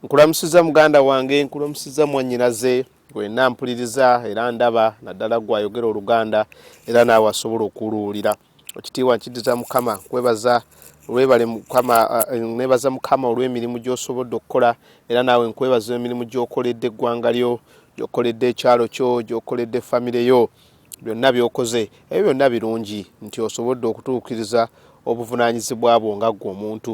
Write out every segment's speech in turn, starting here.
nkulamusiza muganda wange nkulamusiza mwanyinaze wena mpuliriza era ndaba naddala gwayogera oluganda era naawe asobola okuluwulira ekitiibwa nkidiza mukama kwebaza webale mukama eh, nebaza mukama olw'emirimu gy'osobodde okukola era naawe nkwebaza emirimu gy'okoledde eggwanga lyo gy'okoledde ekyalo kyo gy'okoledde famire yo byonna by'okoze ebyo byonna birungi nti osobodde okutuukiriza obuvunaanyizibwa bwo nga ggwe omuntu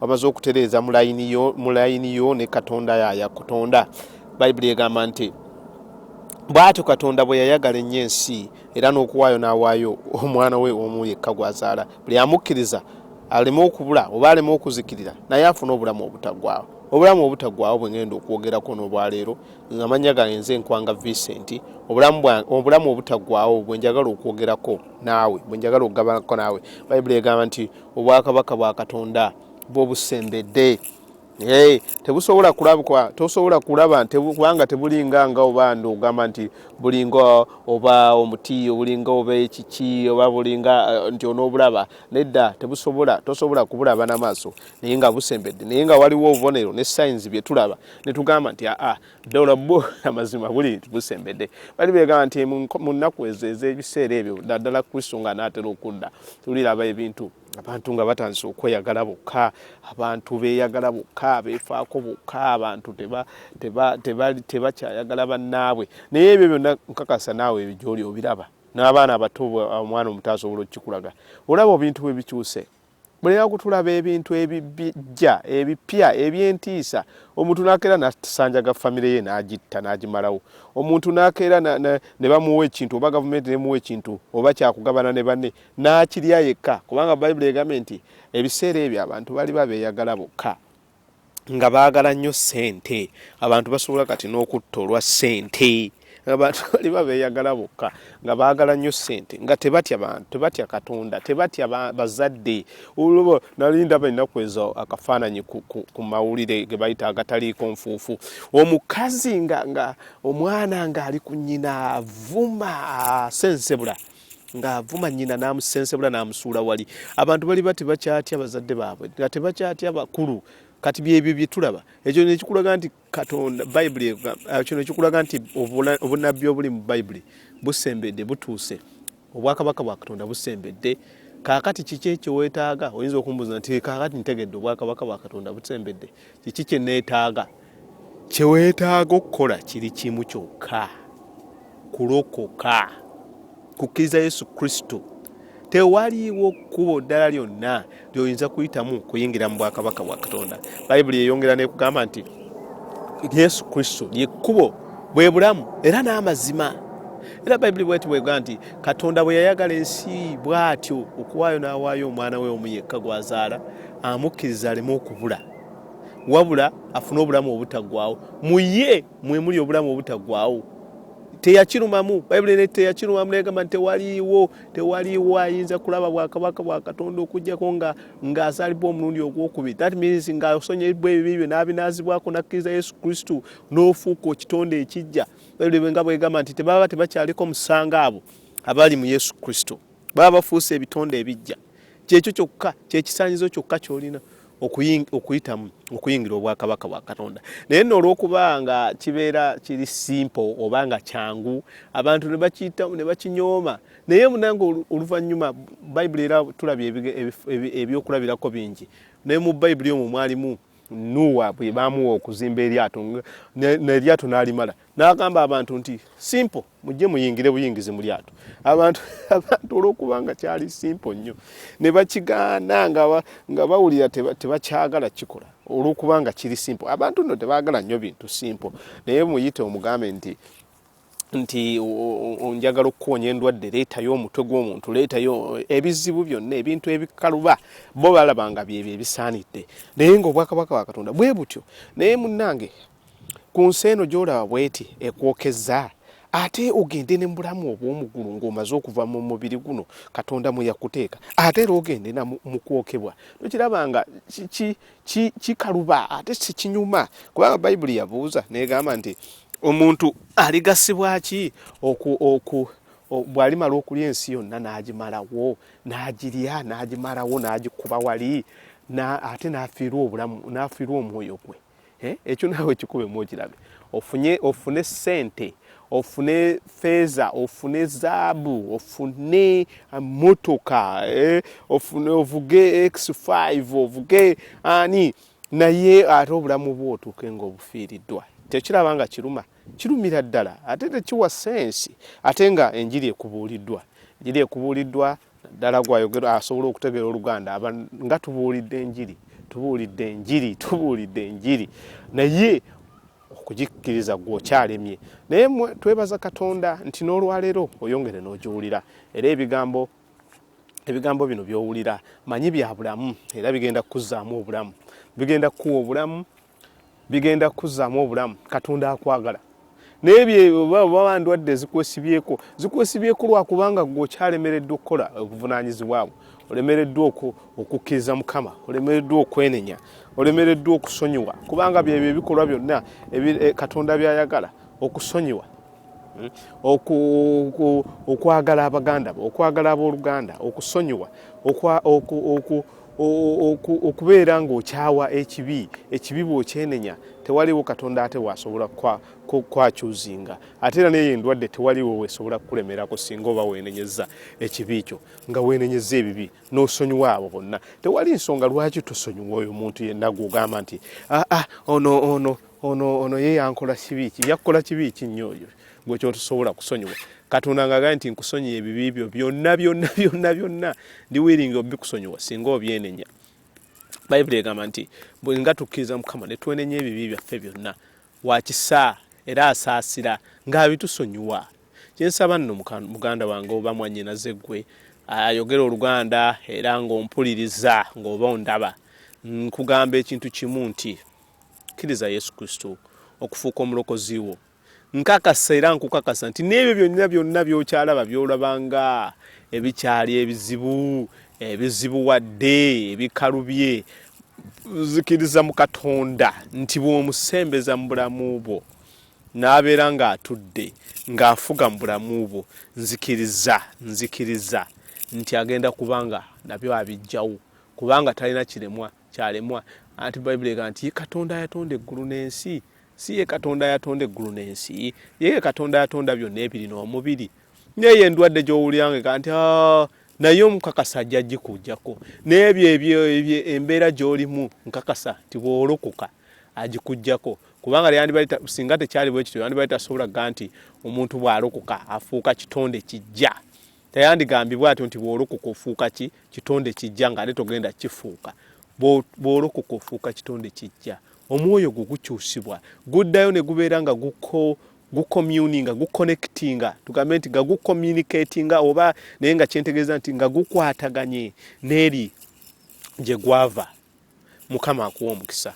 wamaze okutereeza mu layini yo ne katonda yaya kutonda bayibuli egamba nti bwatyo katonda bwe yayagala ennyo ensi era n'okuwaayo n'awaayo omwana we omu yekka gwazaala buli amukkiriza aleme okubula oba aleme okuzikirira naye afune obulamu obutagwawo obulamu obutagwawo bwe ngenda okwogerako n'olwaleero nga manya gange nze enkwanga vincent obulamu obutagwawo bwe njagala okwogerako naawe bwe njagala okugabanako naawe bayibuli egamba nti obwakabaka bwa katonda bwo busembedde Hey, tebusobola kulabwa tosobola kulaba kubanga tebulinga nga oba ndo ogamba nti bulinga oba omuti obulinga oba ekiki oba bulinga uh, nti onobulaba nedda tebusobola tosobola kubulaba namaaso naye nga busembedde naye nga waliwo obubonero ne signs byetulaba netugamba nti aa ah, ah, ddola bo amazima buli busembedde bali beegamba nti mu nnaku ezo ez'ebiseera ebyo naddala kristo nga anaatera okudda tuliraba ebintu abantu nga batandise okweyagala bokka abantu beeyagala bokka beefaako bokka abantu tebakyayagala bannaabwe naye ebyo byonna nkakasa naawe ebyo gyoli obiraba n'abaana abato omwana omuto asobola okukikulaga olaba obintu bwe bikyuse mulina kutulaba ebintu ebijja ebipya ebyentiisa omuntu nakeera nasanjaga famire ye nagitta nagimalawo omuntu nakeera ne bamuwa ekintu oba gavumenti nemuwa ekintu oba kyakugabana ne banne nakirya yekka kubanga bayibuli egambye nti ebiseera ebyo abantu bali babeyagala bokka nga baagala nnyo ssente abantu basobola kati n'okutta olwa ssente abantu bali babeeyagala bokka nga baagala nnyo ssente nga tebatya bantu tebatya katonda tebatya bazadde olwoba nali ndaba ennaku ezo akafaananyi ku mawulire ge bayita agataliiko nfuufu omukazi nga omwana ng'ali ku nnyina avuma asensebula ng'avuma nnyina n'amusensebula n'amusuula wali abantu bali ba tebakyatya bazadde baabwe nga tebakyatya bakulu kati byebyo byetulaba ekyo nekikulaga nti katonda bayibuli ah, kino ekikulaga nti obunabbi obuli mu bayibuli busembedde butuuse obwakabaka bwa katonda busembedde kakati kiki ekyowetaaga oyinza okumbuuza nti kakati ntegedde obwakabaka bwa katonda busembedde kiki kyeneetaaga Kye weetaaga okukola kiri kimu kyokka, kulokoka, kukkiriza Yesu Kristo. Tewaliiwo kkubo ddala lyonna ly'oyinza kuyitamu kuyingira mu bwakabaka bwa Katonda. Bayibuli eyongera n'ekugamba nti Yesu Kristo lye kkubo, bwe bulamu era n'amazima. Era Bayibuli bweti bwegamba nti Katonda bwe yayagala ensi bw'atyo okuwaayo n'awaayo omwana we omu yekka gw'azaala amukkiriza aleme okubula. wabula afune obulamu obutaggwaawo mu ye mwe muli obulamu obutaggwaawo teyakirumamu bayibuli ne teyakirumamu negamba nti tewaliiwo tewaliiwo ayinza kulaba bwakabaka bwa katonda okugyako nga ng'azalibwa omulundi ogwokubiri that means ng'asonyebwa ebibi byo n'abinaazibwako n'akkiriza yesu kristo n'ofuuka ekitonde ekijja bayibuli nga bwegamba nti tebaba tebakyaliko musango abo abali mu yesu kristo baba bafuuse ebitonde ebijja kyekyo kyokka kyekisanyizo kyokka kyolina okuyitamu okuyingira obwakabaka bwa katonda naye no olwokuba nga kibeera kiri simple oba nga kyangu abantu nebakiyitamu nebakinyooma naye munange oluvanyuma bayibuli era tulabye ebyokulabirako bingi naye mu bayibuli omwo mwalimu nuwa bwebamuwa okuzimba eryato neryato nalimala nagamba abantu nti simple mujje muyingire buyingizi mu lyato abantu abantu olwokuba nga kyali simpo nnyo ne bakigaana nga bawulira tebakyagala kikola olwokuba nga kiri simpo abantu nno tebaagala nnyo bintu simpo naye muyite omugambe nti nti onjagala okukuwonya endwadde leetayo omutwe gw'omuntu leetayo ebizibu byonna ebintu ebikaluba bo balaba nga byebyo ebisaanidde naye nga obwakabaka bwakatonda bwe butyo naye munnange ku nsi eno gy'olaba bweti ekwokezza ate ogende ne mubulamu obw'omugulu ng'omaze okuva mu mubiri guno katonda mwe yakuteeka ate era ogende na mu kwokebwa tokiraba nga kikaluba ate sikinyuma kubanga bayibuli yabuuza negamba nti omuntu aligasibwa ki oku oku bwalimala okulya ensi yonna n'agimalawo n'agirya n'agimalawo n'agikuba wali ate n'afiirwa obulamu n'afiirwa omwoyo gwe eh, ekyo naawe kikubemu okirabe ofunye ofune sente ofune feeza ofune zaabu ofune ah, motoka eh, ofune ovuge x5 ovuge ani naye ate obulamu bwo otuuke nga obufiiriddwa tekiraba nga kiruma kirumira ddala ate tekiwa sensi ate nga enjiri ekubuuliddwa enjiri ekubuuliddwa ddala gwayogera asobola okutegeera oluganda aba nga tubuulidde enjiri tubuulidde enjiri tubuulidde enjiri naye okugikkiriza gwe okyalemye naye twebaza katonda nti n'olwaleero oyongere n'ogiwulira era ebigambo ebigambo bino by'owulira manyi bya bulamu era bigenda kukuzzaamu obulamu bigenda kukuwa obulamu bigenda kukuzaamu obulamu katonda akwagala naye byebaba ndwadde zikwesibyeko zikwesibyeko lwakubanga gwe okyalemereddwa okukola obuvunanyizibwabwe olemereddwa okukkiriza mukama olemereddwa okwenenya olemereddwa okusonyiwa kubanga byebyo ebikolwa byonna eh, katonda byayagala okusonyiwa hmm? okwagala abaganda bo okwagala abooluganda okusonyiwa okubeera ng'okyawa ekibi ekibi bw'okyenenya tewaliwo katonda ate wasobola kwakyuzinga ate era neyo endwadde tewaliwo wesobola kukulemerako singa oba wenenyeza ekibi kyo nga wenenyeza ebibi n'osonyiwa abo bonna tewali nsonga lwaki tusonyiwa oyo muntu yenna gwogamba nti aa ah, ah, ono ono ono ono ye yankola kibi ki yakkola kibi ki nnyo oyo gwe kyotosobola kusonyiwa katonda nga agaye nti nkusonyiye ebibi byo byonna byonna byonna byonna ndi wiringi obikusonyiwa singa obyenenya bayibuli egamba nti bwenga tukkiriza mukama netwenenya ebibi byaffe byonna wakisa era asaasira ng'abitusonyiwa kyensaba nno muganda wange oba mwanyinaze gwe ayogera oluganda era ng'ompuliriza ng'oba ondaba nkugamba ekintu kimu nti kkiriza yesu kristo okufuuka omulokozi wo Nkakasa era nkukakasa nti n'ebyo byonna byonna byokyalaba byolabanga ebikyali ebizibu ebizibuwadde ebikalubye zikiriza mu katonda nti bw'omusembeza mu bulamu bwo n'abeera ng'atudde ng'afuga mu bulamu bwo nzikiriza nzikiriza nti agenda kubanga nabyo abijjawo kubanga talina kiremwa kyalemwa anti bayibuli ega nti katonda yatonda eggulu n'ensi si ye katonda yatonda eggulu n'ensi yeye katonda yatonda byonna ebirina omubiri naye endwadde gy'owulirangeka nti ah, naye omukakasa ajja gikujjako n'ebyo ebyo embeera gy'olimu nkakasa nti bw'olokoka agikujjako kubanga lyandibali singa tekyali bwe kityo yandibali tasobola ga nti omuntu bw'alokoka afuuka kitonde kijja Teyandigambye bw'atyo nti bw'olokoka ofuuka ki kitonde kijja nga ate togenda kifuuka. Bw'olokoka ofuuka kitonde kijja, omwoyo gwo gukyusibwa, guddayo ne gubeera nga guko gukomyuninga gukonekitinga tugambe nti nga gukomunikatinga oba naye nga kyentegeeza nti nga gukwataganye n'eri gye gwava mukama akuwa omukisa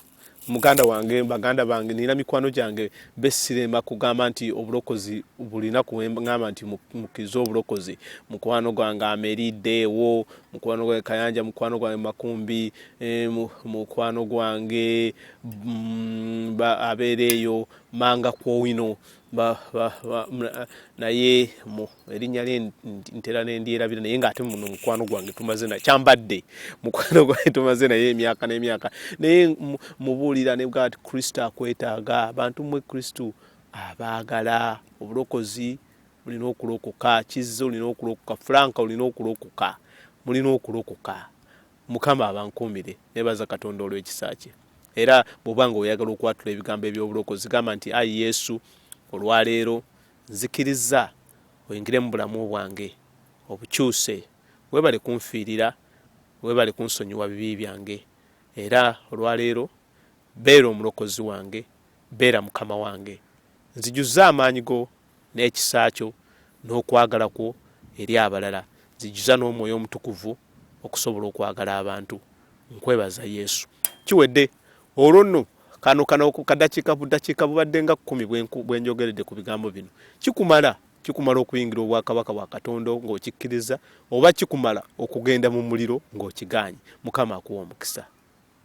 muganda wange baganda bange nina mikwano gyange besiremba kugamba nti obulokozi bulina kuwengamba nti mukirize obulokozi mukwano gwange amerideewo mukwano gwange kayanja mukwano gwange makumbi eh, mukwano gwange mm, abeera eyo manga kwowino ba, ba, ba, mna, naye mu erinnya lye ntera nendyerabira naye ng'ate muno mukwano gwange tumaze na kyambadde mukwano gwange tumaze naye emyaka n'emyaka naye mubuulira ne bwati kristo akwetaaga abantu mwe kristo abaagala obulokozi mulina okulokoka kizza olina okulokoka fulanka olina okulokoka mulina okulokoka Mukama abankuumire. Nebaza Katonda olw'ekisa kye. Era bw'oba nga oyagala okwatula ebigambo eby'obulokozi, gamba nti, Ayi Yesu, olwaleero nzikirizza oyingire mu bulamu bwange obukyuse. Webale kunfiirira, webale kunsonyiwa bibi byange. Era olwaleero beera omulokozi wange, beera Mukama wange. Nzijuza amaanyi go n'ekisa kyo n'okwagala kwo eri abalala. Nzijuza n'omwoyo omutukuvu okusobola okwagala abantu. Nkwebaza Yesu. Kiwedde. Olwo nno, kano, kano kadakiika budakiika bubadde nga kkumi bwe njogeredde ku bigambo bino. Kikumala? Kikumala okuyingira obwakabaka bwa Katonda ng'okikkiriza, oba kikumala okugenda mu muliro ng'okigaanyi? Mukama akuwe omukisa.